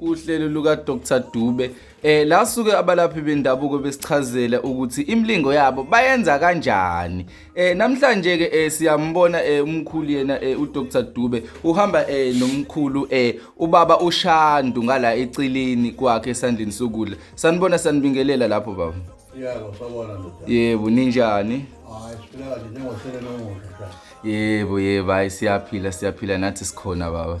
uhlelo luka-dr dube eh la suke abalaphi bendabuko besichazela ukuthi imlingo yabo bayenza kanjani eh namhlanje ke eh, siyambona eh, umkhulu yena eh, uDr Dube uhamba eh, nomkhulu eh, ubaba uShandu ngala ecilini kwakhe esandleni sokudla sanibona sanibingelela lapho baba yebo sabona ndoda yebo ninjani hayi siphila kahle njengohlelo nomuhle yebo yebo hayi siyaphila siyaphila nathi sikhona baba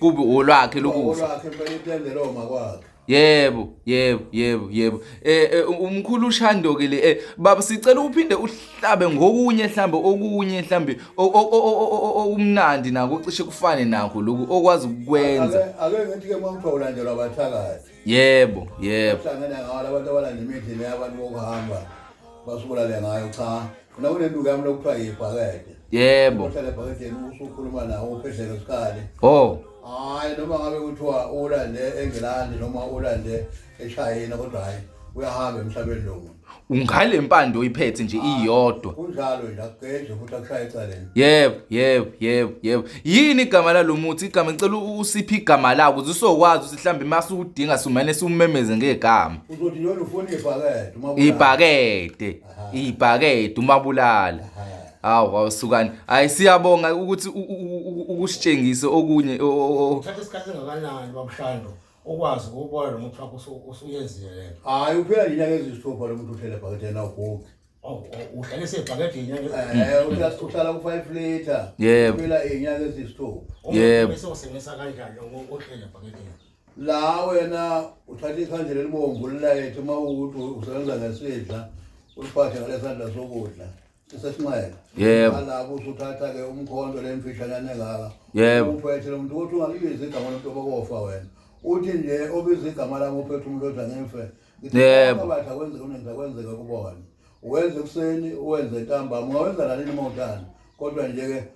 kubi olwakhe lokufa olwakhe impela intendela oma kwakhe Yebo, yebo, yebo, yebo. Eh, eh umkhulu uShando ke le eh baba sicela uphinde uhlabe ngokunye mhlambe okunye mhlambe okumnandi nako cishe kufane nakho lokhu okwazi ukwenza. Ake ake ngithi ke mangithiwa ulandelwa abathakathi. yebo yebo hlangana ngawo abantu abalanda imidlini yabantu bokuhamba basubulale ngayo cha khona kunenduku yami lokuthiwa yibhakede yebo uhlale ebhakedeni usukhuluma nawo uphedleke isikali oh hayi noma ngabe kuthiwa ulande engilandi noma ulande eshayina kodwa hayi uyahamba emhlabeni lo muntu ungale mpande oyiphethe nje iyodwa kunjalo nje akugedle futhi akushaye ecaleni yebo yebo yebo yebo yini igama lalomuthi igama ngicela u- usiphe igama lawo ukuze usokwazi ukuthi mhlawumbe uma siwudinga sumane siwumemeze ngegama uzothi noma ufuna ibhakede uma ubulala. ibhakede Aha. ibhakede umabulala Aha. hawu awusukani hayi siyabonga ukuthi u- u- u- u- ukusitshengise okunye o- o- o- Thatha isikhathi engakanani babushando ukwazi ukubona lo muntu wakho usu- usuyenzile le nto hayi uphela nje inyanga eziyisithupha lo muntu uhlele ebhakede yena ugogi Oh, oh, uhlale sebhakede inyanga Eh, uhlala- uhlala ku-five litre Yebo. uphela iy'nyanga eziyisithupha Yebo. bese usebenzisa kanjani ohlele ebhakedeni la wena uthatha ikhandlela elibomvu lilayethe uma ukuthi usebenza ngesidla uliphathe ngalesandla sokudla sesinxele yebo alapho usuthatha ke umkhonto lemfishanane ngaka yebo uphethe lo muntu ukuthi ungalibiza igama lomuntu obokofa wena uthi nje obiza igama lami uphethe umuntu othi angimfe yebo batha kwenzeka unenza kwenzeka kubona uwenza ekuseni uwenze ntambama ungawenza nalini uma uthanda kodwa nje ke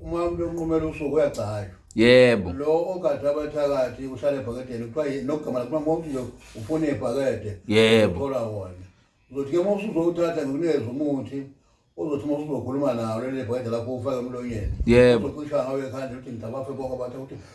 Uma umuntu onqumela usuku uyagcaywa. Yebo. Lo ogada abathakathi uhlale ebhakedeni kuthiwa ye- nogama lakuma mawuthi nje ufuna ibhakede. Yebo. Uthola wona. Uzothi ke uma usuzowuthatha ngikunikeze umuthi uzothi uma usuzokhuluma nawo leli bhakede lakho ufake emlonyeni. Yebo. Uzocisha ngawo ekhanda uthi ngidabafe bonke abantu ukuthi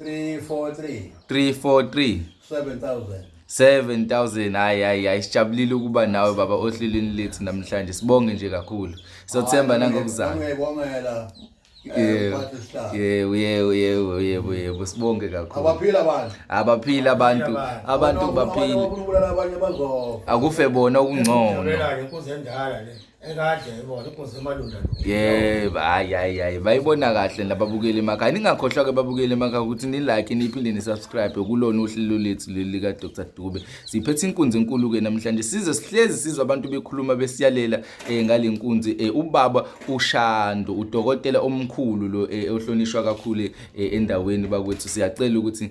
343 343 7000 7000 hayi hayi hayi sijabulile ukuba nawe baba ohlelweni lethu namhlanje sibonge nje kakhulu sothemba nangokuzama ngiyabongela eh, yebo yebo yebo yebo yebo sibonge kakhulu abaphila abantu abaphila abantu abantu baphila akufe bona ukungcono Ekade yayibona inkosi emalunda lo. Yebo, hayi hayi hayi bayibona kahle nababukeli emakhaya. Ningakhohlwa ke babukeli emakhaya ukuthi ni like niphinde ni subscribe kulona uhlelo lethu leli lika Dr Dube. Siphethe inkunzi enkulu ke namhlanje. Size sihlezi sizwa abantu bekhuluma besiyalela eh, ngalenkunzi eh, ubaba uShando udokotela omkhulu lo eh, ohlonishwa kakhulu eh, endaweni bakwethu. Siyacela ukuthi